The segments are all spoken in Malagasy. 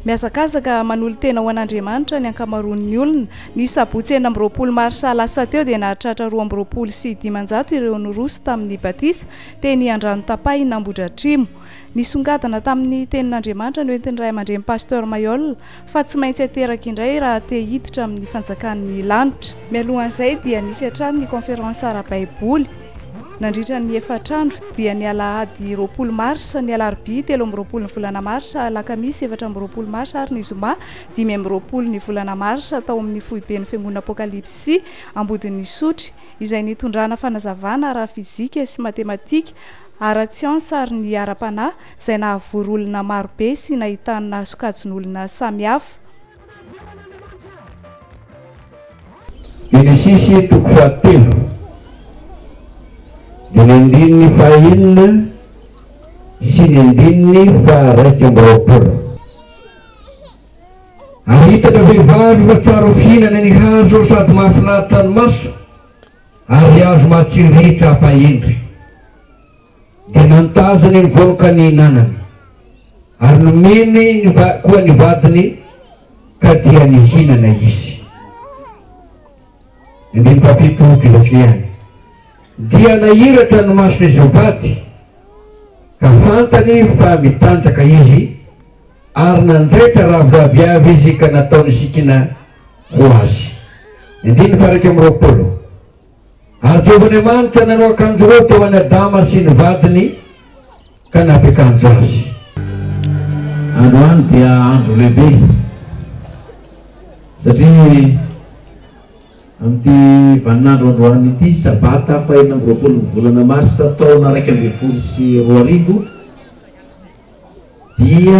Mihazakazaka manolo-tena ho an'Andriamanitra ny ankamaroan'ny olona. Ny sabotsy enina amby roapolo marsa lasa teo dia nahatratra roa amby roapolo sy dimanjato ireo niroso tamin'ny batisa teny Andranotapahina Ambohidratrimo. Nisongadina tamin'ny tenin'Andriamanitra noentin'ny ray aman-dreny Pasteur Mayolle fa tsy maintsy ateraka indray raha te hiditra amin'ny fanjakan'ny lanitra. Mialohan'izay dia nisy hatrany ny Conférence ara-baiboly nandritra ny efatra andro, dia ny alahady roapolo marsa, ny alarobia telo amby roapolo ny volana marsa, alakamisy efatra amby roapolo marsa ary ny zoma dimy amby roapolo ny volana marsa tao amin'ny foiben'ny Fiangonana Apokalipsy Ambodin'Isotry, izay nitondrana fanazavana ara-fizika sy matematika, ara-tsiansa ary ny ara-panahy. izay nahavory olona maro be sy nahitana sokajin'olona samihafa. Genesisy toko fahatelo, dia ny andininy fahaenina sy ny andininy faharaika amby roapolo. Ary hitako vehivavy fa tsara ho fihinana ny hazo sady mahafinaritra ny maso ary hazo mahatsiriritra hampahendry. Dia nantazany ny vohoka nihinanany, ary nomeny koa ny vadiny, ka dia nihinana izy. Andininy fahafito, Fihazihana. Dia nahiratra ny mason'izy mivady, ka fantany fa mitanjaka izy, ary nanjaitra rahavavy avy izy ka nataony sikina ho azy. Andininy faha iraika amby roapolo. Ary Jehovah Andriamanitra nanao akanjo roa teo an'i Adama sy ny vadiny ka nampiakanjo azy. Androany dia andro lehibe satria amin'ity vaninandro androany ity, Sabata fahenina amby roapolo ny volana marsa taona iraika ambin'ny folo sy roa arivo dia.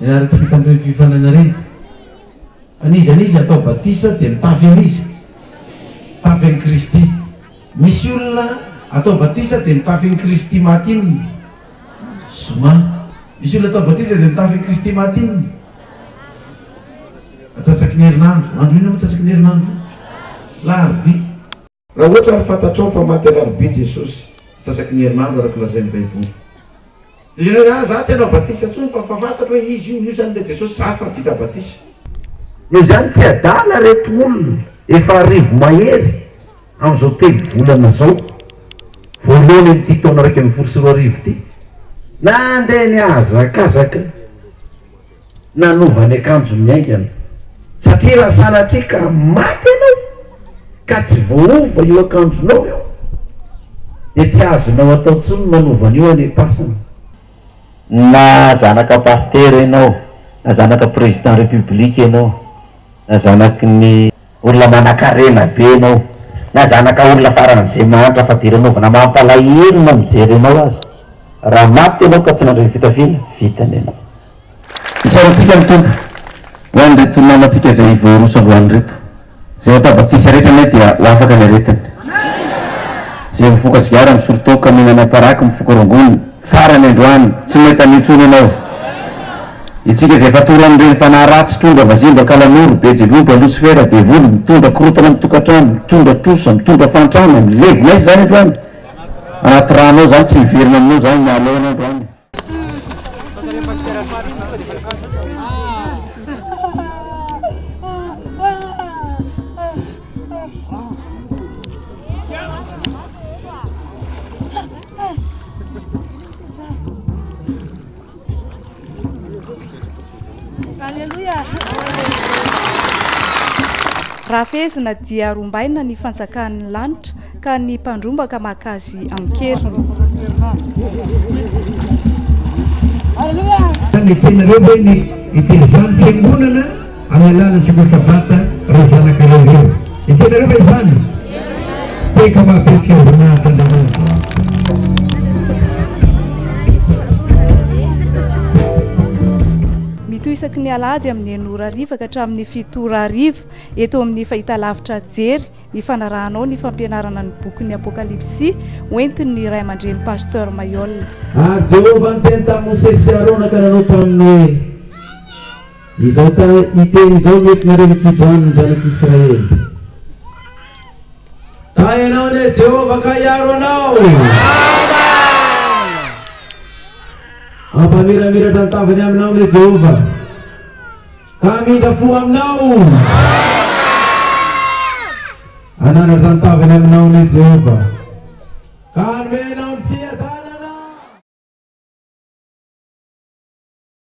Nianara tsy vita amin'ireny fiofanana ireny. Fa ny iza n'iza atao batisa dia mitafy an'iza? Mitafy an'i Kristy. Misy olona atao batisa dia mitafy an'i Kristy maty inona? Zoma. Misy olona atao batisa dia mitafy an'i Kristy maty inona? Atsatsaky ny herinandro. Andro inona moa atsatsaky ny herinandro? Alarobia. Raha ohatra ary fantatrao fa maty Alarobia Jesosy, antsasaky ny herinandro araka ny lazain'ny Baiboly. Izy indray, Ahy, Izaho tsy hanao batisa intsony fa fa fantatro hoe Izy io, io izany ilay Jesosy, izaho efa vita batisa. Noho izany tsy adala ireto olona efa arivo mahery amin'izao telo volana izao voalohany amin'ity taona iraika ambin'ny folo sy roa arivo ity nandeha nihazakazaka. Nanova ny akanjony haingana. Satria raha sanatria ka maty ianao ka tsy voaova io akanjonao io dia tsy azonao atao intsony ny manova an'io anipasana. Na zanaka pasitera ianao, na zanaka président république ianao, na zanaky ny. Olona manakarena be enao na zanaka olona faran'ze mahantra fa dera novana mampalahelo na mijery enao aza raha maty enao ka tsy nandre ny fitafiana vita ny anao. Isaorantsika ny Tompo ho an'ireto namantsika izay voaroso androany ireto. Izay atao batisa rehetra anie dia ho afaka ny aretiny. Izay mifoka sigara, misolo toaka, mihinana paraky, mifoka rongony, Farany androany, tsy may tany intsony ianao. Itsika izay efa toro amin'ireny fanahy ratsy, trondro avazimba, kalanoro, bejeloba, losifera, devoly, mitondra korontana amin'ny tokantrano, mitondra trosa, mitondra fahantrana, milevina aiza izany androany? Anaty rano ao izany, tsy miverina aminao izany ny haloana androany. Raha fehezina dia rombaina ny fanjakan'ny lanitra ka ny mpandrombaka maka azy an-keriny. Aleloia! Ny teninareo ve ny ity izany fiangonana? Amin'ny alalan'i Sokatra Bata ireo zanaka roa ireo. Ekenareo ve izany? Teka mahabetsika ny voninahitran'Andriamanitra. Mitohy isaky ny alahady amin'ny enina ora hariva ka hatramin'ny fito ora hariva eto amin'ny fahitalavitra Jery ny fanarahanao ny fampianarana ny bokin'ny Apokalypsy hoentin'ny Ray aman-dreny Pasteur Mayolle. Ary Jehovah niteny tamin'i Mosesy sy Arona ka nanao taminy hoe. Izao hiteny izao ny entinareo mikijo any ny zanak'Israely. Taha ianao anie Jehovah ka hiaro anao. Hampamiramiratra ny tavany aminao anie Jehovah, ka hamindra fo aminao. Hananatra ny tavany aminao anie Jehovah, ka hanome anao ny fiadanana.